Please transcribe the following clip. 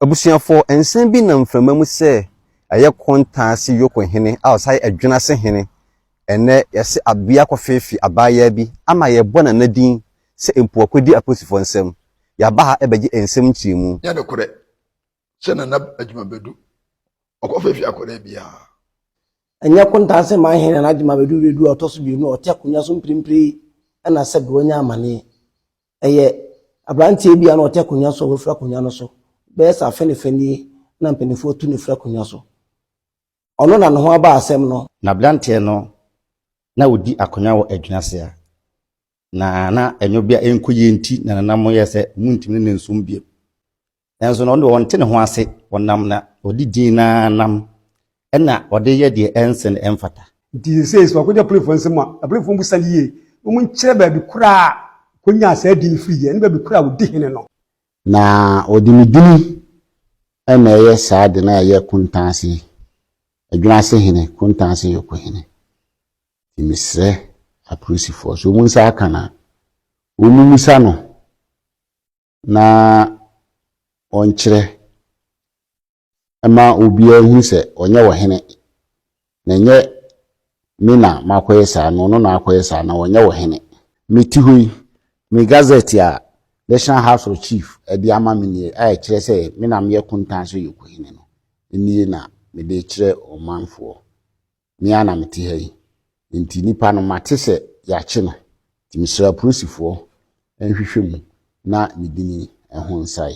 Abusuafoɔ nsa bi nam mframa mu sɛ ɛyɛ Kontaase Yoko hene a ɔsan yɛ Adwenase hene ɛnnɛ yɛse Abea kɔfeefe abaayaa bi ama yɛbɔ nana din sɛ mpoakwadi apolisifoɔ nsam. Yɛaba ha bɛgye nsɛm nkyerɛmu. Nyɛ nokorɛ sɛ nana Agyemabadu ɔkɔfeefe akwadaa biara. Ɛnyɛ Kontaase man hene nana Agyemabadu Redu a ɔtɔ so mmienu a ɔte akonnwa so mprempren yi na sɛbe wanya amaneɛ. Ɛyɛ aberanteɛ bi a na ɔte akonnwa so a wafiri akonnwa no so. Bɛyɛ sɛ afe ne fa nie na mpanimfoɔ tu no firi akonnwa so. Ɔno na ne ho aba asɛm no. Na aberanteɛ no, na ɔdi akonnwa wɔ Adwina Sea, na na ɛnyɔ bi a ɛnkɔ yie nti na ne nan mu yɛɛ sɛ wɔntumi ne no nsom bio. Nanso na ɔno deɛ ɔnte ne ho ase, ɔnam na ɔdi din no ara nam na ɔde yɛ deɛ ɛnse na ɛmfata. Nti seesei sɛ ɔkɔgya Polifoɔ nsam a, na Polifoɔ bisa no yie na wɔnkyerɛ baabi korɔ a ɔkɔnyaa saa din no firiiɛ ne baabi korɔ a ɔdi hene no. Na ɔde ne din na ɛyɛ saa ade no a ɛyɛ Kuntanse, Adwinase hene, Kuntanse Yoko hene. Nti mesrɛ apolisifoɔ sɛ wɔn nsa aka no a, wɔmmisa no na ɔnkyerɛ mma obiara nhunu sɛ ɔnyɛ ɔhene, na ɛnyɛ me na makɔyɛ saa no, ɔno na akɔyɛ saa na ɔnyɛ ɔhene. Mete hɔ yi, me gazette a National House of Chief de ama me nie a ɛkyerɛ sɛ me na meyɛ Kontan so Yokohene no nie na mede rekyerɛ ɔmanfoɔ. me ara na mete ha yi, enti nipa no mate sɛ yɛakye no, nti mesrɛ apolisifoɔ nhwehwɛ mu na me dini ho nsae.